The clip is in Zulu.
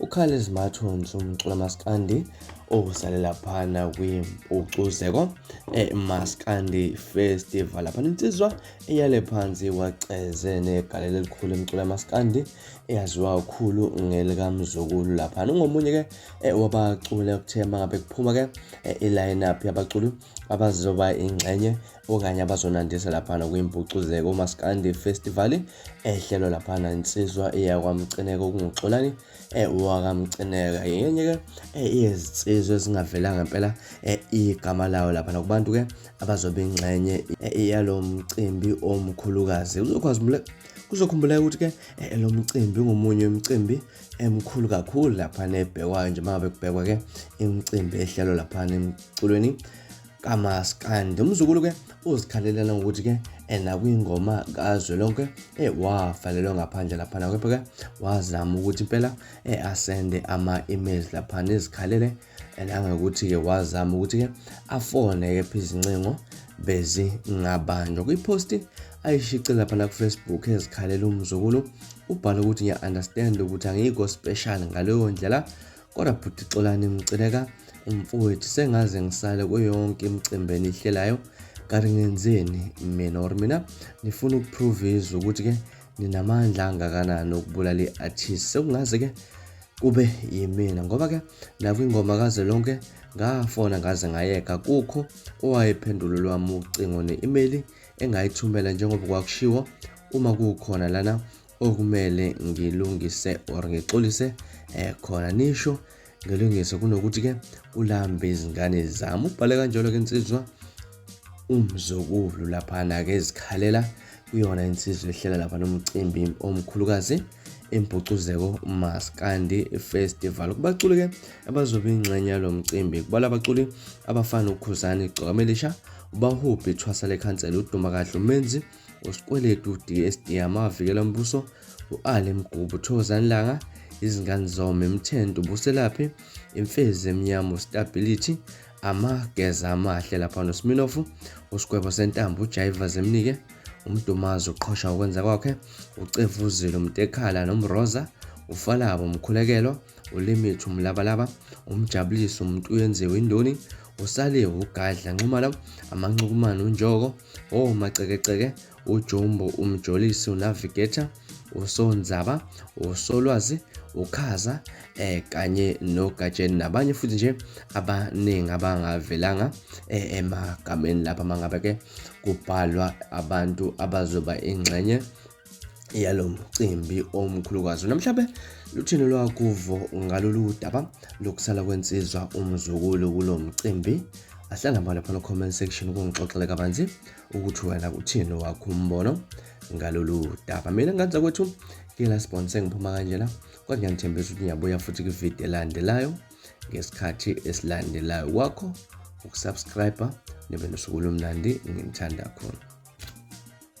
uCarles Mathons umcula maskandi owusale laphana kwimpucuzeko emaskandi festival laphana insizwa eyale phansi waceze negalelo elikhulu emcula maskandi eyaziwa kakhulu ngelikamzukulu laphana ungomunye ke eh, wabaculi okuthe mangabe kuphuma ke eh, i-lineup yabaculi abazoba ingxenye okanye abazonandisa laphana kwimpucuzeko umaskandi festival ehlelwa laphana insizwa eyakwamcineka okunguxolani eh, wakamcineka yenye ke eh, iyezinsizwa ezingavelanga impela eh, igama lawo laphana kubantu ke abazobe ingxenye yalo mcimbi omkhulukazi uzokwazi kuzokhumbuleka ukuthi ke eh, lo mcimbi ungomunye wemicimbi emkhulu kakhulu laphana ebhekwayo nje uma ngabe kubhekwa ke imicimbi ehlelo laphana emculweni kamaskandi umzukulu ke uzikhalelana ngokuthi ke ena kwingoma kazwelonke eh wavalelwa ngaphandle laphana kepha ke wazama ukuthi impela eh asende ama-emails laphana ezikhalele and angakuthi ke wazama ukuthi ke afone ke phi izincingo bezi ngabanjwa kwiposti ayishice lapha na kufacebook ezikhalela umzukulu ubhala ukuthi ngiya-understand ukuthi angikho special ngaleyo ndlela Kodwa bhuti Xolani ngiceleka umfowethu sengaze ngisale kuyonke imicimbi enihlelayo kanti ngenzeni mina or mina nifuna ukuprove izwe ukuthi ke ninamandla angakanani okubulala i-artist sekungaze ke kube yimina ngoba ke nakwingoma kaze lonke ngafona ngaze ngayeka kukho owayephendulo lwami ucingo ne-imeyili engayithumela njengoba kwakushiwo uma kukhona lana okumele ngilungise or ngixolise eh khona nisho ngelungise kunokuthi ke ulambe izingane zami ubhale kanjalo ke insizwa umzukulu laphana ke ezikhalela kuyona insizwa ehlela lapha nomcimbi omkhulukazi impucuzeko maskandi festival kubaculi ke abazobe ingxenye yalo mcimbi kubala abaculi abafana ukhuzani igcokamelisha ubahubhi ithwasa lekhansela udumakahle umenzi uSikweletu DSD Amavikela Mbuso, u-Ali Mgubu Thokozani Langa, izingane zome Mthento Buselaphi, Imfezi Emnyama Stability, Amageza Amahle lapha noSminofu, uSigwebo Sentambo uJaiva Zemnike, uMdumazi uqhosha ukwenza kwakhe, uCevuzile uMtekhala noMroza, uFalabo Mkhulekelo, ulimit umlabalaba umjabulisi umuntu uyenziwe indoni usale ugadla nxumalo amancukumane unjoko omacekeceke oh, ujumbo umjolisi unavigator usonzaba usolwazi ukhaza eh kanye nogatsheni nabanye futhi nje abaningi abangavelanga eh, emagameni lapha mangabe ke kubhalwa abantu abazoba ingxenye yalo mcimbi omkhulukazi namhlabe luthini lwakuvo ngalolu daba lokusala kwensizwa umzukulu kulo mcimbi ahlala mbala phana comment section ukungixoxela kabanzi ukuthi wena uthini wakho umbono ngalolu daba mina nganza kwethu ngila sponsor ngiphuma kanjena kodwa ngiyanithembisa ukuthi ngiyabuya futhi kwivideo elandelayo ngesikhathi esilandelayo kwakho ukusubscribe nibe nosuku lomnandi nginithanda khona